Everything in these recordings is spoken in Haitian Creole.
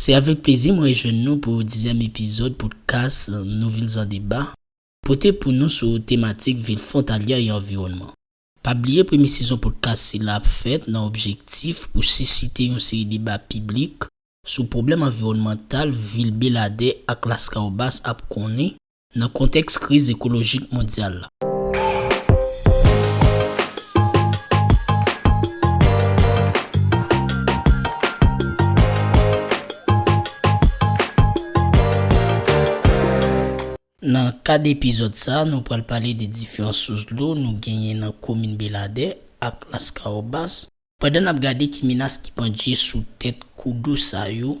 Se avèk plezi m rejwenn nou pou dizyèm epizòd podkas nou Vilzandeba pote pou nou sou tematik vil fwontalyè e anviwònman. Pa bliye premye sezon podkas sila ap fèt nan objektif pou sisite yon seri deba piblik sou pwoblèm anviwònmantal vil Beladè ak Laskawobas ap konnen nan kontèks kriz ekolojik mondyal la. Nan kad epizòd sa a, nou pral pale de diferan sous dlo nou genyen nan komin Beladè ak Laskawobas, pandan n ap gade ki menas ki pandje sou tèt kou dlo sa yo,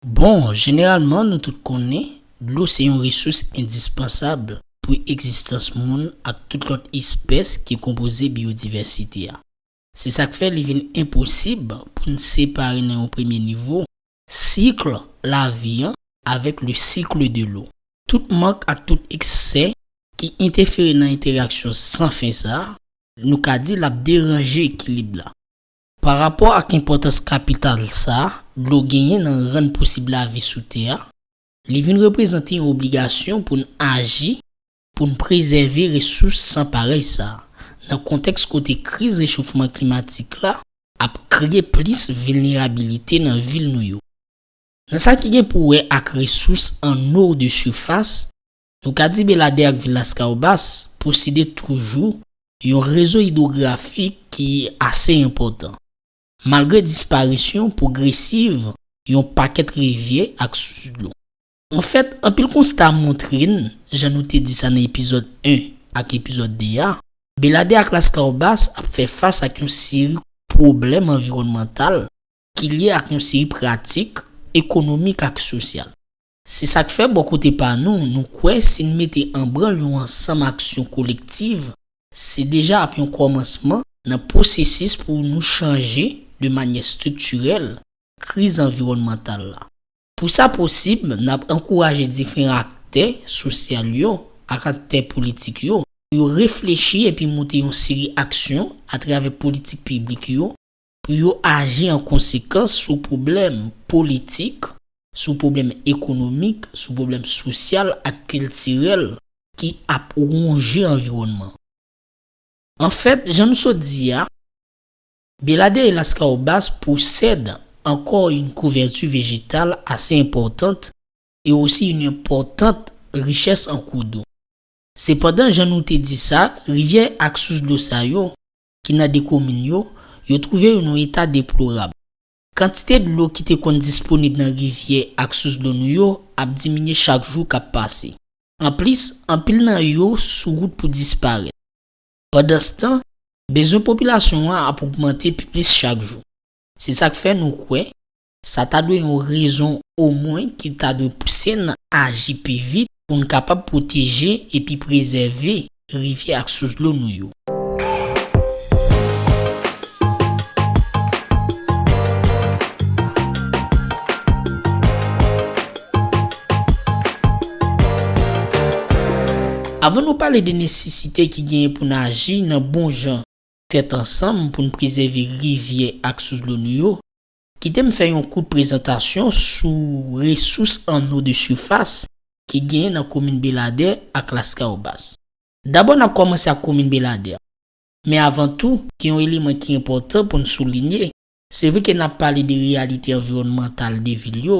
Bon, jeneralman nou tout konnen, dlo se yon resous endispansab pou egzistans moun ak tout lòt espès ki konpoze biyodivèsite a. Se sa k fè li vin enposib pou n separe nan yon premye nivo, sikl lavi an avèk le cycle de l'eau. Tout mank ak tout eksè ki entèfere nan entèraksyon san fen sa a, nou ka di l ap deranje ekilib la. Pa rapò ak enpòtans kapital sa a, dlo genyen nan rann posib lavi sou tè a, li vin reprezante yon obligasyon pou n aji pou n prezève resous san parèy sa a, nan kontèks kote kriz rechofman klimatik la ap kreye plis vilnerabilite nan vil nou yo. Nan sa ki gen pou wè ak resous an eau de surface, Nou ka di Beladè ak vil Laskawobas posede toujou yon rezo idwografik ki ase enpòtan. Malgre disparisyon pwogresiv yon pakèt rivyè ak sous dlo. Anfèt, anpil konsta montre n, jan nou te di sa nan epizòd 1 ak epizòd 2 a, Beladè ak Laskawobas ap fè fas ak yon seri pwoblèm anviwònmantal ki lye ak yon seri pratik ekonomik ak sosyal. Se sa k fè, bò kote pa nou, nou kwè si n mete an branl yon ansanm aksyon kolektiv, se deja ap yon kòmansman nan pwosesis pou nou chanje, de manyè striktirèl, kriz anviwònmantal la. Pou sa posib, n ap ankouraje diferan aktè sosyal yo ak aktè politik yo pou yo reflechi epi monte yon seri aksyon atravè politik piblik yo, pou yo aji an konsekans sou pwoblèm politik, sou pwoblèm ekonomik, sou pwoblèm sosyal ak kiltirèl ki ap wonje anviwònman. Anfèt, jan nou sot di a, Belladea e Lascahobas posèd ankò yn kouvèti vejetal ase enpòtant e osi yn enpòtant richès an kou dlo. Sepandan, jan nou te di sa, rivyè ak sous dlo sa yo, ki nan 2 komin yo, yo twouve yo nan yon eta deplorab. Kantite dlo ki te konn disponib nan rivyè ak sous dlo nou yo ap diminye chak jou k ap pase. Anplis, anpil nan yo sou wout pou disparèt. Pandanstan, bezwen popilasyon an ap ogmante pi plis chak jou. Se sa k fè nou kwè, Sa ta dwe yon rezon omwen ki ta dwe pouse n aji pi vit pou n kapab pwoteje epi prezève rivyè ak sous dlo nou yo. Avan nou pale de nesesite ki genyen pou n aji nan bon jan tèt ansanm pou n prezève rivyè ak sous dlo nou yo, Kite m fè yon kout prezantasyon sou resous an o de sifas ki genyen nan komin Beladè ak Laskawobas. Dabò n ap kòmanse ak komin Beladè. Men avan tou, gen yon eleman ki enpòtan pou n soulinye, se vre ke n ap pale de reyalite anviwònmantal de vil yo,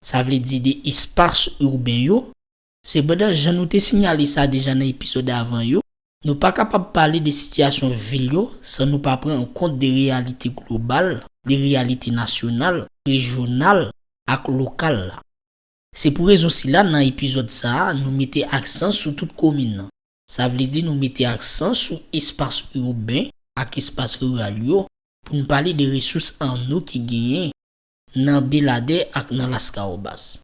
sa vle di de espas urben yo, Sepandan, jan nou te sinyale sa deja nan epizòd avan yo, nou pa kapab pale de sitiyasyon vil yo san nou pa pran an kont de reyalite global, de reyalite nasyonal, rejyonal ak lokal la. Se pou rezon sila nan epizòd sa a nou mete aksan sou tout komin nan. Sa vle di nou mete aksan sou espas urben ak espas riral yo pou n pale de resous an nou ki genyen nan Beladè ak nan Laskawobas.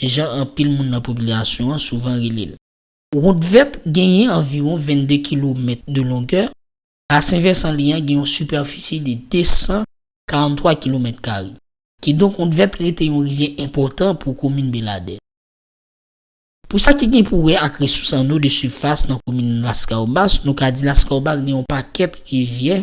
jan anpil moun nan popilasyon an souvan rele l. Wout vèt genyen anviwon 22 kilomèt de longè, basen vèsan li an gen yon sipèfisi de 243 kilomèt kare. Kidonk wout vèt rete yon rivyè enpòtan pou komin Beladè. Pou sa ki gen pou wè ak resous anno de sifas nan komin Laskawobas, nou ka di Laskawobas gen yon pakèt rivyè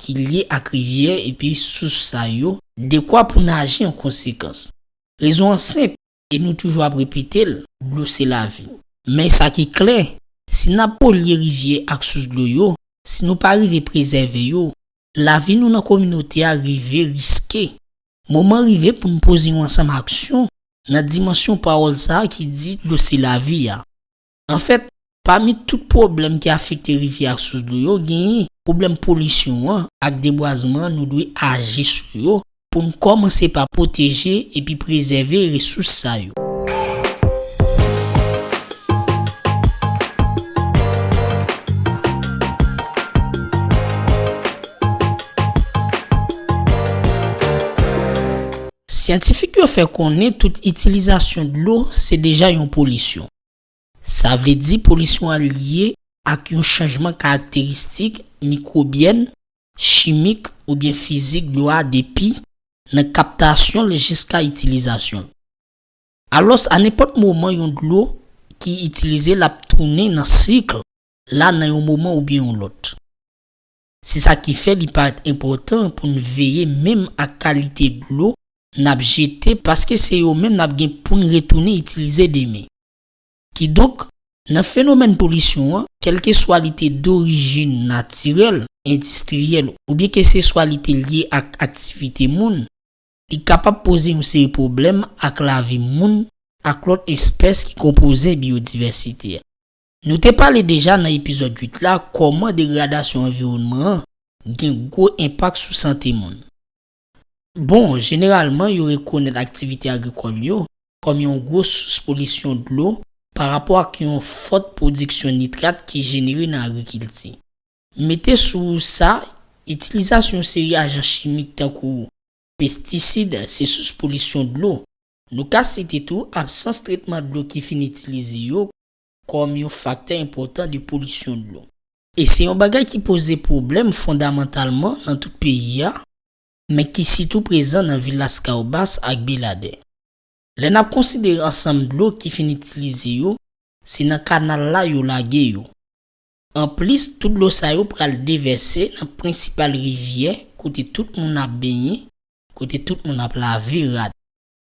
ki lye ak rivyè epi sous sa yo, dekwa pou n aji an konsekans. Rezon an senp e nou toujou ap repete l, dlo se lavi. Men sa ki klè, si n ap polye rivyè ak sous dlo yo, si nou pa rive prezève yo, lavi nou nan kominote a rive riske. Moman rive pou n poze yon ansanm aksyon nan dimansyon pawòl sa a ki di dlo se lavi a. Anfèt, pami tout pwoblèm ki afekte rivyè ak sous dlo yo, genyen pwoblèm polisyon an ak debwazman an nou dwe aji sou yo pou n kòmanse pa pwoteje epi prezève resous sa yo. Syantifik yo fè konnen tout itilizasyon dlo se deja yon polisyon. Sa vle di polisyon an lye ak yon chanjman karakteristik mikwobyèn, chimik oubyen fizik dlo a depi nan kaptasyon l jiska itilizasyon l. Alòs a nenpòt moman yon dlo ki itilize l ap tounen nan sikl la nan yon moman oubyen yon lòt. Se sa ki fè li parèt enpòtan pou n veye menm ak kalite dlo n ap jete paske se yo menm n ap gen pou n retounen itilize demen. Kidonk, nan fenomèn polisyon an, kèlkeswa li te dorijin natirèl, endistriyèl oubyen keseswa li te lye ak aktivite moun, li kapab poze yon seri pwoblèm ak lavi moun ak lòt espès ki konpoze biyodivèsite a. Nou te pale deja nan epizòd 8 la kòman degradasyon anviwònman an gen gwo enpak sou sante moun. Bon, jeneralman yo rekonèt aktivite agrikòl yo kòm yon gwo sous polisyon dlo pa rapò ak yon fòt pwodiksyon nitrat ki jenere nan agrikilti. Mete sou sa, itilizasyon yon seri ajan chimik tankou pestisid se sous polisyon dlo. Nou ka site tou absans tretman dlo ki fin itilize yo kòm yon faktè enpòtan de polisyon dlo. E se yon bagay ki poze pwoblèm fondamantalman nan tout peyi a, men ki sitou prezan nan vil Laskawobas ak Beladè. Lè n ap konsidere ansanm dlo ki fin itilize yo, se nan kanal la yo lage yo. Anplis, tout dlo sa yo pral devèse nan prensipal rivyè kote tout moun ap benyen, kote tout moun ap lave rad.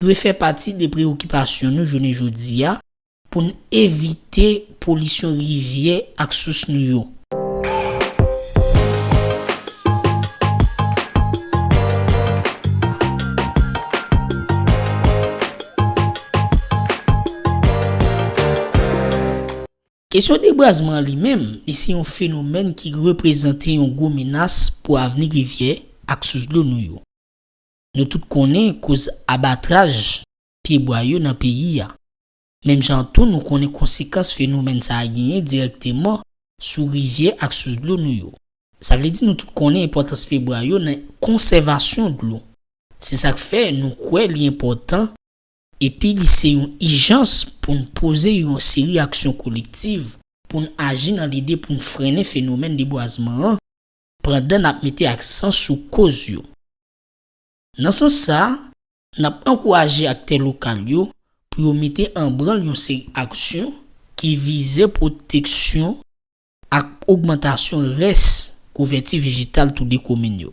dwe fè pati de preyokipasyon nou jounen jodi a pou n evite polisyon rivyè ak sous nou yo. Kesyon debwazman an li menm, li se yon fenomèn ki reprezante yon gwo menas pou avni rivyè ak sous dlo nou yo. Nou tout konnen koz abatraj pye bwa yo nan peyi a. Menm jan an tou nou konnen konsekans fenomèn sa a genyen dirèkteman sou rivyè ak sous dlo nou yo. Sa vle di nou tout konnen enpòtans pye bwa yo nan konsèvasyon dlo. Se sa k fè nou kwè li enpòtan epi li se yon ijans pou n poze yon seri aksyon kolektiv pou n aji nan lide pou n frennen fenomèn debwazman an pandan n ap mete aksan sou koz yo. Nan sans sa, n ap ankouraje aktè lokal yo pou yo mete an branl yon seri aksyon ki vize pwoteksyon ak ogmantasyon rès kouvèti vejetal toude komin yo.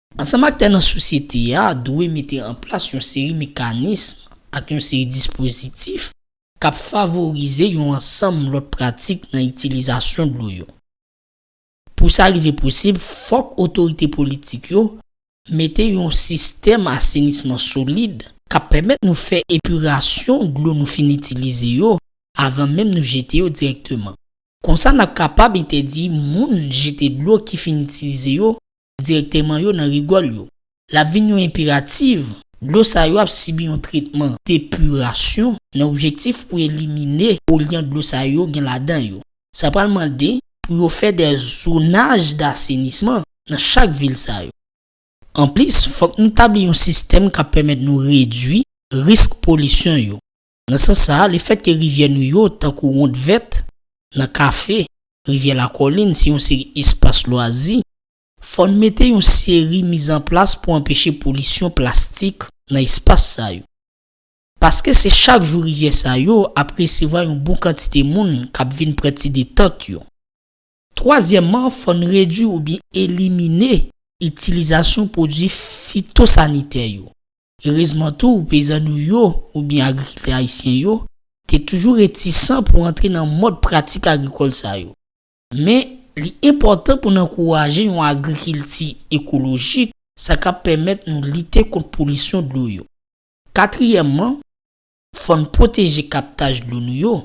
Ansanm aktè nan sosyete a dwe mete an plas yon seri mekanism ak yon seri dispozitif k ap favorize yon ansanm lòt pratik nan itilizasyon dlo yo. Pou sa rive posib, fòk otorite politik yo mete yon sistèm asenisman solid k ap pèmèt nou fè epirasyon dlo nou fin itilize yo avan menm nou jete yo dirèkteman. Konsa n ap kapab entèdi moun jete dlo ki fin itilize yo direkteman yo nan rigòl yo. L ap vin yon enperativ, dlo sa yo ap sibi yon tretman epirasyon nan objektif pou elimine polyan dlo sa yo gen ladan yo. Sa pral mande pou yo fè de zonaj dasenisman nan chak vil sa yo. Anplis, fòk nou tabli yon sistèm k ap pèmèt nou redui risk polisyon yo. Nan sans sa a, lefèt ke rivyè nou yo, tankou Wonn Vèt, nan Kafe, Rivyè Lakolin, se yon seri espas lwazi, fò n mete yon seri mizanplas pou anpeche polisyon plastik nan espas sa yo. Paske se chak jou rivyè sa yo ap resevwa yon bon kantite moun k ap vin pran ti detant yo. Twazyèmman, fò n redui oubyen elimine itilizasyon pwodui fitosanitè yo. Erezman tou, peyizan nou yo oubyen agrikiltè ayisyen yo te toujou retisan pou antre nan mòd pratik agrikòl sa yo. Men, li enpòtan pou n ankouraje yon agrikilti ekolojik, sa k ap pèmèt nou lite kont polisyon dlo yo. Katriyèmman, fò n pwoteje kaptaj dlo nou yo.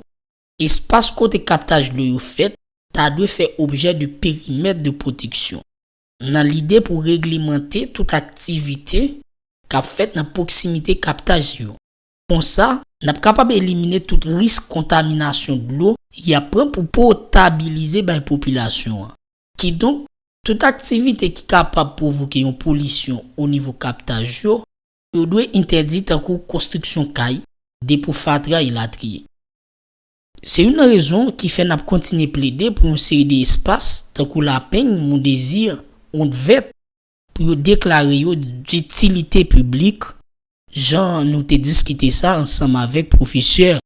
Espas kote kaptaj dlo yo fèt ta dwe fè objè de perimèt de pwoteksyon, nan lide pou reglemante tout aktivite k ap fèt nan pwoksimite kaptaj yo. Konsa, n ap kapab elimine tout risk kontaminasyon dlo y ap pran pou potabilize bay popilasyon an. Kidonk, tout aktivite ki kapab pwovoke yon polisyon onivo kaptaj yo Yo dwe entèdi tankou konstriksyon kay, depo fatra elatriye. Se youn nan rezon ki fè n ap kontinye plede pou yon seri de espas tankou Lapeng, Mondezi, Wont Vèt pou yo deklare yo ditilite piblik jan nou te diskite sa ansanm avèk pwofesè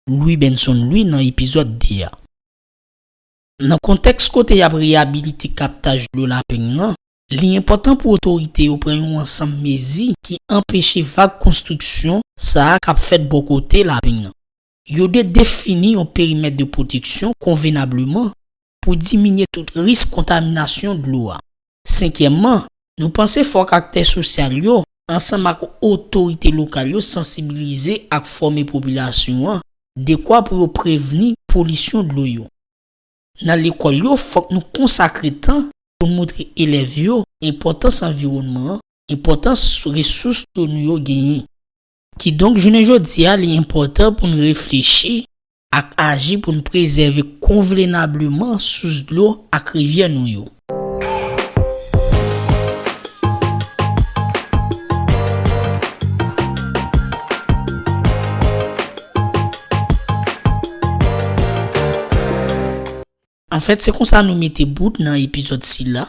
Louis Benson Louis nan epizòd 2 a. Nan kontèks kote y ap reyabilite kaptaj dlo Lapeng lan, li enpòtan pou otorite yo pran yon ansanm mezi ki anpeche vag konstriksyon sa a k ap fèt bò kote Lapeng lan. Yo dwe defini yon perimèt de pwoteksyon konvenableman pou diminye tout risk kontaminasyon dlo a. Senkyèmman, nou panse fòk aktè sosyal yo, ansanm ak otorite lokal yo sansibilize ak fòme popilasyon an dekwa pou yo prevni polisyon dlo yo. Nan lekòl yo fòk nou konsakre tan pou n moutre elèv yo enpòtans anviwònman an, enpòtans resous dlo nou yo genyen. Kidonk jounen jodi a li enpòtan pou n reflechi ak aji pou n prezève konvlenableman sous dlo ak rivyè nou yo. Anfèt se konsa nou mete bout nan epizòd sila.